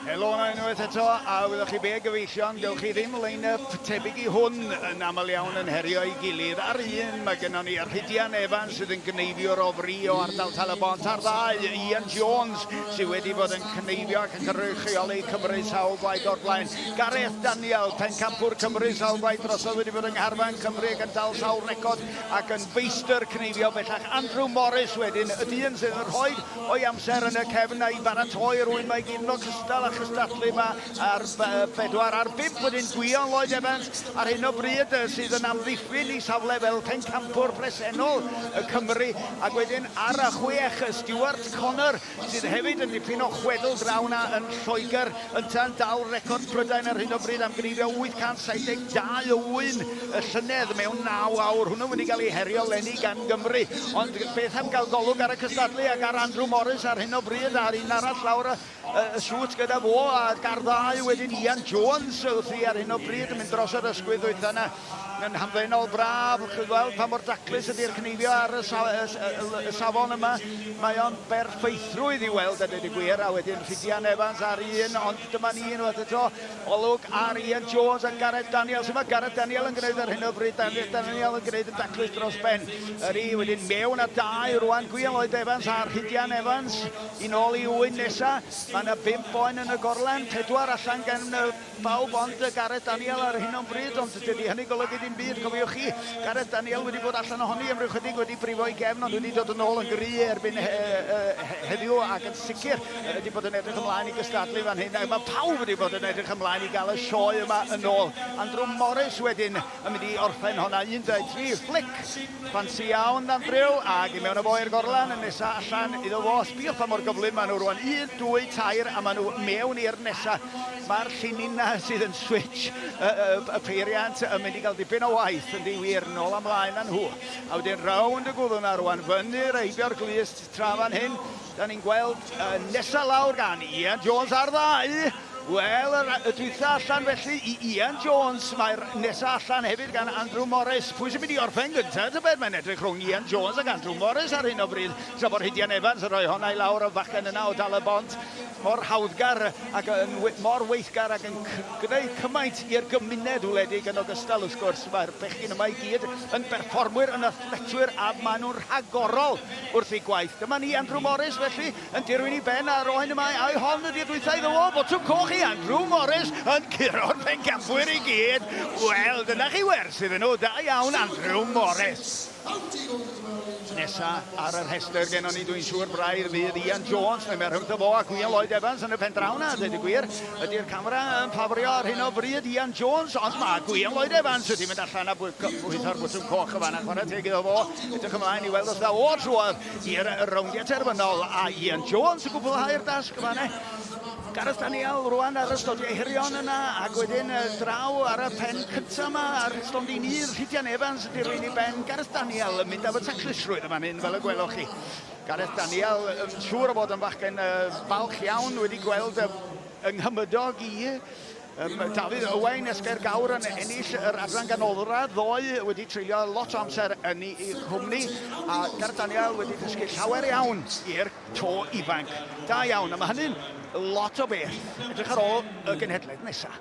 Helo yna unwaith eto, a wyddoch chi be gyfeillion, dewch chi ddim line-up tebyg i hwn yn aml iawn yn herio ei gilydd. Ar un, mae gennon ni Rhydian Evans sydd yn gyneifiwr o fri o ardal Talybont, a'r ddau, Ian Jones, sydd wedi bod yn cyneifio ac yn cynrychioli Cymru sawl gwaith o'r blaen. Gareth Daniel, Pencampwr Cymru sawl gwaith drosodd wedi bod yng Ngharfan Cymru ac yn dal sawl record ac yn feistr cneifio bellach. Andrew Morris wedyn, y dyn sydd yn rhoi o'i amser yn y cefn a'i baratoi rwy'n mae gyd yn ogystal â chystadlu yma ar bedwar ar bump wedyn Gwion Lloyd Evans ar hyn o bryd sydd yn amddiffyn i safle fel pencampwr presennol y Cymru ac wedyn ar y chwech Stuart Connor sydd hefyd yn dipyn o chwedl draw 'na yn Lloegr, yntau'n dal record Prydain ar hyn o bryd am gneifio 872 o ŵyn y llynedd mewn naw awr. Hwnnw wedi cael ei herio leni gan Gymru, ond beth am gael golwg ar y cystadlu ac ar Andrew Morris ar hyn o bryd, a'r un arall lawr y y siwt gyda fo, a ga'r ddau wedyn Ian Jones wrthi ar hyn o bryd yn mynd dros yr ysgwydd ddwytha 'na. Mae'n hamddenol braf chi weld pa mor daclus ydy'r cneifio ar y, sa y, y, y safon yma. Mae o'n berffeithrwydd i weld a dweud y gwir, a wedyn Rhidian Evans ar un, ond dyma ni unwaith eto, olwg ar Ian Jones a Gareth Daniel. Sut mae Gareth Daniel yn gwneud ar hyn o bryd? Daniel yn gwneud yn daclus dros ben. Yr i wedyn mewn a dau rwan, Gwiel oed Evans a Rhidian Evans. Yn ôl i un nesa, mae yna bimp boen yn y gorlen, pedwar allan gan Pawb ond Gareth Daniel ar hyn o'n bryd, ond dydy hynny golygu dim byd, cofiwch chi. Gareth Daniel wedi bod allan ohoni am ryw chydig, wedi brifo ei gefn, ond wedi dod yn ôl yn gry erbyn he, he, he, heddiw, ac yn sicr wedi bod yn edrych ymlaen i gystadlu fan hyn. Mae pawb wedi bod yn edrych ymlaen i gael y sioe yma yn ôl. Andrew Morris wedyn yn mynd i orffen honna, 13 fflic ffansi iawn dan ddrill ac i mewn â fo i'r gorlan, yn nesa allan iddo fo, sbïwch pa mor gyflym maen nhw rwan, 1, 2, 3 a maen nhw mewn i'r nesa, mae'r llinyna sydd yn switch y, y, y peiriant yn mynd i gael dipyn o waith yn diwir, nôl a mlaen â nhw, a wedyn rownd y gwddw na rwan, fyny reibio'r glust tra fan hyn, da ni'n gweld y nesa lawr gan Ian Jones ar ddau, Wel, yr y dwytha allan felly i Ian Jones, mae'r nesa allan hefyd gan Andrew Morris. Pwy sy'n mynd i orffen gyntaf tybed? Mae'n edrych rhwng Ian Jones ac Andrew Morris ar hyn o bryd, tra bod Rhydian Evans yn rhoi honna i lawr y fachgen yna o Dal y Bont, mor hawddgar ac yn mor weithgar ac yn gwneud cymaint i'r gymuned wledig yn ogystal wrth gwrs. Mae'r bechgyn yma i gyd yn berfformwyr, yn athletwyr a maen nhw'n rhagorol wrth eu gwaith. Dyma ni Andrew Morris felly. yn dirwyn i ben a roen y mae ai hon ydi'r dwytha iddo o Botwm Coch i Andrew Morris yn curo'r pencampwyr i gyd. Wel, dyna chi werth iddyn nhw, da iawn Andrew Morris. Nesa ar y rhestr gen ni dwi'n siŵr braidd fydd Ian Jones, mae mae'r rhyngtho fo a Gwion Lloyd Evans yn y pen draw na, dweud y gwir. Ydy'r camera yn ffafrio ar hyn o bryd Ian Jones, ond mae Gwion Lloyd Evans wedi mynd allan a bwytho'r bwtwm coch y fan a chwarae teg iddo fo. Edrych ymlaen i weld os dda o'r trwodd. i'r rowndiau terfynol a Ian Jones yn gwblhau'r dasg yma ne. Gareth Daniel rwan ar ystod ei herion yna ac wedyn draw ar y pen cyntaf yma ar stondin un Rhidian Evans yn dirwyn i ben Gareth Daniel yn mynd am y taclusrwydd yma hyn fel y gwelwch chi. Gareth Daniel yn siŵr o fod yn fachgen falch iawn wedi gweld yng Nghymydog i Yym, Dafydd Owain, Esgair Gawr yn ennill yr adran ganolradd ddoe, wedi treulio lot o amser yn ei chwmni, a Gareth Daniel wedi dysgu llawer iawn i'r to ifanc. Da iawn, a mae hynny'n lot o beth. Edrych ar ôl y genhedlaeth nesaf.